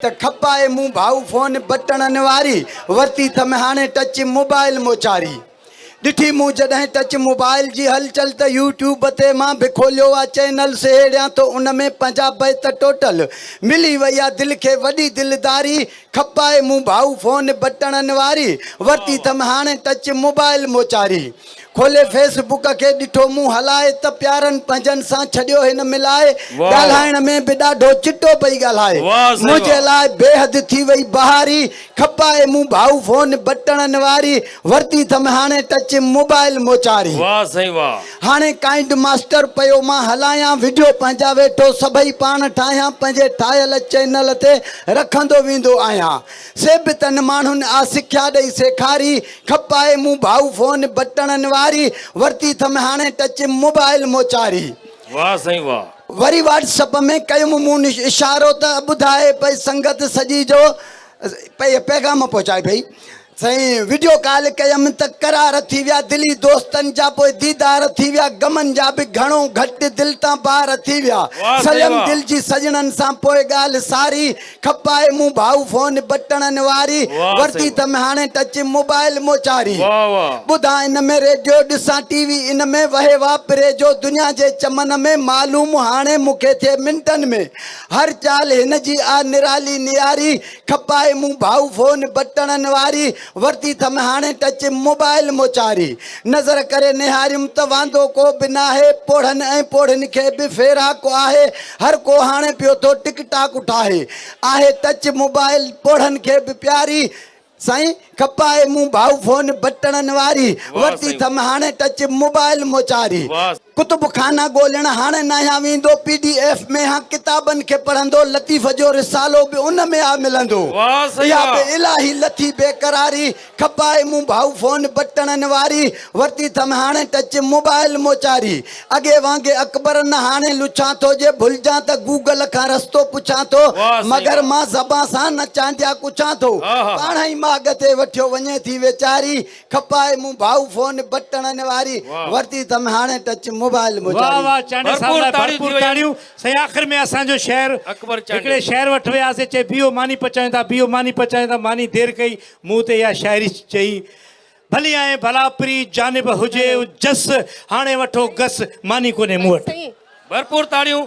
ته کپائي مون ڀائو فون بٽڻن واري، ورتي ٿم هاڻي ٽچ موبائل موچاري. ڏٺي مون جڏهن ٽچ موبائل جي هلچل ته يو ٽيوب تي مان به کوليو آ چينل سهيڙيان ٿو ان ۾ پنجاب بيت ٽوٽل ملي وئي آ دل کي وڏي دلداري کپائي مون ڀائو فون بٽڻن واري، ورتي ٿم هاڻي ٽچ موبائل موچاري. کولي فيس بڪ کي ڏٺو مون هلائي ته پيارن پنهنجن سان ڇڏيو هن ملائي ڳالهائڻ ۾ به ڏاڍو چٽو پئي ڳالهائي منهنجي لاء بيحد ٿي وئي بهاري کپائي مون ڀائو فون بٽڻن واري ورتي ٿم هاڻي ٽچ موبائل موچاري هاڻي ڪائنڊ ماسٽر پيو مان هلايان وڊيو پنهنجا ويٺو سڀئي پاڻ ٺاهيان پنهنجي ٺاهيل چينل تي رکندو ويندو آهيان سي به تن ماڻهن آ سکيا ڏئي سيکاري کپائي مون ڀائو فون بٽڻن واري ورتي ٿم هاڻي ٽچ موبائل موچاري واه سائين واه. وري واٽسپ ۾ ڪيم مون اشارو ته ٻڌائي پئي سنگت سڄي جو پئي پيغام پهچائي پئي سائين وڊيو ڪال ڪيم ته قرار ٿي ويا دلي دوستن جا پوء ديدار ٿي ويا غمن جا به گهڻو گهٽ دل تان بار ٿي ويا سليم دل جي سڄڻن سان پوء ڳالهه ساري کپائي مون ڀائو فون بٽڻن واري ورتي تم هاڻي ٽچ موبائل موچاري ٻڌا ان ۾ ريڊيو ڏسان ٽي وي ان ۾ وهي واپري جو دنيا جي چمن ۾ معلوم هاڻي مون کي ٿئي منٽن ۾ هر چال هن جي آ نرالي نياري کپائي مون ڀائو فون بٽڻن واري ورتي ٿم هاڻي ٽچ موبائل مون چاري نظر ڪري نهاريم ته واندو ڪو به ناهي پوڙهن ۽ پوڙهين کي به ڦيراڪ آهي هر ڪو هاڻي پيو ٿو ٽڪ ٽاڪ اٺاهي آهي ٽچ موبائل پوڙهن کي به پياري سائين کپائي مون ڀائو فون بٽڻن واري ورتي ٿم هاڻي ٽچ موبائل مون چاري ڪتب خانه ڳولڻ هاڻ ناهيان ويندو، پي ڊي ايف ۾ هان ڪتابن کي پڙهندو، لطيف جو رسالو به ان ۾ آ ملندو. اها به الاهي لٿي بي قراري، کپائي مون ڀائو فون بٽڻن واري، ورتي ٿم هاڻ ٽچ موبائل موچاري، اڳي وانگي اڪبر نه هاڻي لڇان ٿو، جي ڀلجان ته گوگل کان رستو پڇان ٿو، مگر مان زبان سان نه چانڊيا ڪڇان ٿو، پاڻهئي ماڳ تي وٺيو وڃي ٿي ويچاري، کپائي مون ڀائو فون بٽڻن واري ورتي تم هاڻي ٽچ موبائل مجاري واھ واھ چانڊيو صاحب لاء ڀرپور تاڙيون سائين آخر ۾ اسان جو شعر هڪڙي شعر وٽ وياسي چئي بيهو ماني پچائين ٿا بيهو ماني پچائين ٿا ماني دير ڪئي مون تي اها شاعري چئي ڀلي آئين ڀلا پري جانب هجي جس هاڻي وٺو گس ماني ڪونهي مون وٽ ڀرپور تاڙيون